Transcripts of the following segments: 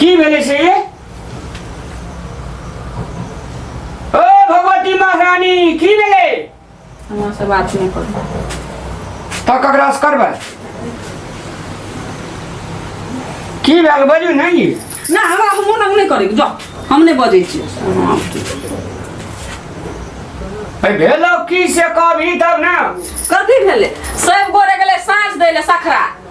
की भेलै से ये ओ भगवती महारानी की भेलै हमरा से बात नहीं करू तऽ ककरा से करबै की भेल बजू नहि ये ना हमरा हम मोन नहीं करे जा हम नहीं बजे छी हाँ, ठीक। ऐ भेलौ की से कहबी तब ने कथी भेलै सब गोरे गेलै साँझ दै ले सखरा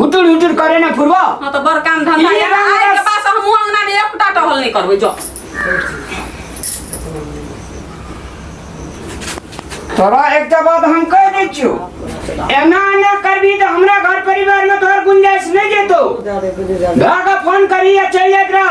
हुटुर हुटुर करे ना फुरबो हां तो बड़ काम धंधा ई ये ना रंग आए के रस। पास हम अंगना में एक फुटा टहल नहीं करबे जो तोरा एकटा बात हम कह दै छियो एना एना करबी तऽ हमरा घर परिवार में तोहर गुंजाइश नहीं जेतो भागा फोन करी या चल जात रह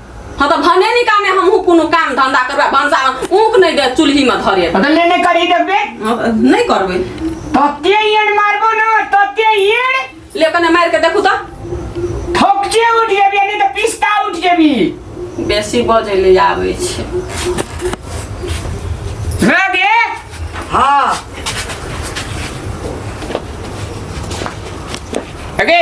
हाँ तो भने नहीं काम है हमहू कोनो काम धंधा करबे भंसा ऊक नहीं दे चूल्ही में धरे तो ले नहीं करी देबे नहीं करबे तते येन मारबो ना तते येन ले कने मार के देखू तो ठोकचे उठ जेबी नहीं तो पिस्ता उठ जेबी बेसी बजे ले आवे छे रगे हां अगे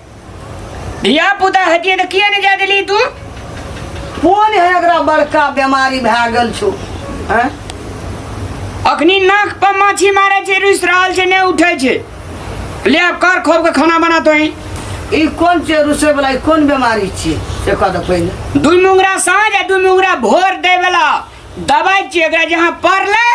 धिया पुता हतिए तऽ किया नहि जा देली तू कोन है एकरा बड़का बीमारी भए गेल छौ हैं? अखनी नाक पर माछी मारे छै रुसि रहल छै नहि उठै छै ले आब कर खोब के खाना बना तो ई कोन छै रुसे वाला ई कोन बीमारी छियै से कह दे पहिले दू मुंगरा साँझ आ दू मुंगरा भोर दै वाला दवाई छियै एकरा जहाँ पड़लै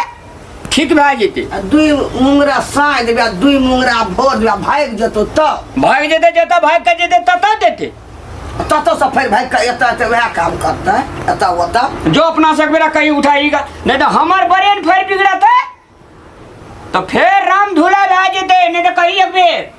ठीक भए जेतै आ दुई मुंगरा साँइ देबै आ दुई मुंगरा भोर देबै आ भागि जेतौ तऽ भागि जेतै जतऽ भागि कऽ जेतै ततऽ जेतै ततऽसँ फेर भागि कऽ एतऽ एतऽ उएह काम करतै एतऽ ओतऽ जो अपना से एक बेरा कहीं उठाई का नहीं तो हमार ब्रेन फेर बिगड़ते तो फिर राम धूला भए जेते नहीं तो कही एक बेर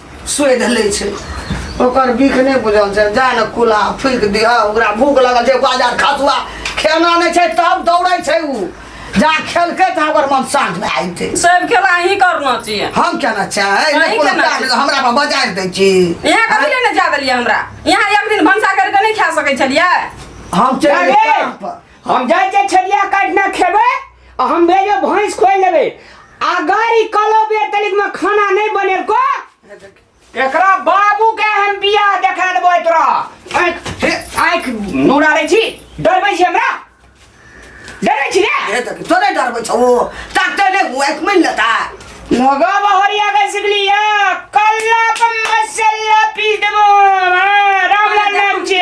सोधि लै छै ओकर बीख नहि बुझल छै जा ने कुला फूकि दिह ओकरा भूख लगल छै बाजार खसुआ खेना नहि छै तब दौड़ै छै ओ जा खेलकै तऽ हमर मन शान्त भए जेतै सब खेला अहीं करना चाहिए हम केना चाहे अहीं नहि कोनो केना काज चाही। हमरा पर बजारि दै छी यहाँ कभी ले ने जा देलियै हमरा यहाँ एक दिन भनसा करके नहि खा सकै छलियै हम चलि अरे! काम पर हम जाइ छै छलिया काटना खेबै आ हम भेजो भैंस खोल लेबै अगर ई कलो बेर तलिक में खाना नहीं बने को एकरा बाबू के हम बिया देखा देबो तोरा आंख आंख नूरा रे छी डरबै छी हमरा डरै छी रे तोरे डरबै छौ ताकते ने हुआ एक मिल लेता नगा बहरिया के सिकलिया कल्ला पर मसाला पीस देबो रामलाल नाम छी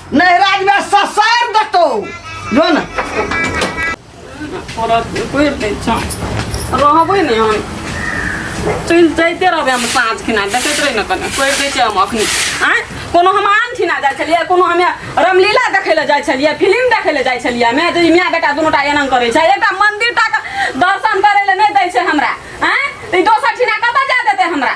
नहीं राज में ससार दतो जो ना थोड़ा कोई नहीं चांस रहबे नहीं हम चल जाते रहबे हम साँझ खिना देखते रही ना कने कोई दै छै हम अखनी आँय कोनो हम आम खिना जाइ छलियै कोनो हमे रामलीला देखै लए जाइ छलियै फिल्म देखै लए जाइ छलियै हमे जे माय बेटा दुनू टा एना करै छै एकटा मंदिर टा के दर्शन करै लए नहि दै छै हमरा आँय तऽ ई दोसर ठिना कतऽ जा देतै हमरा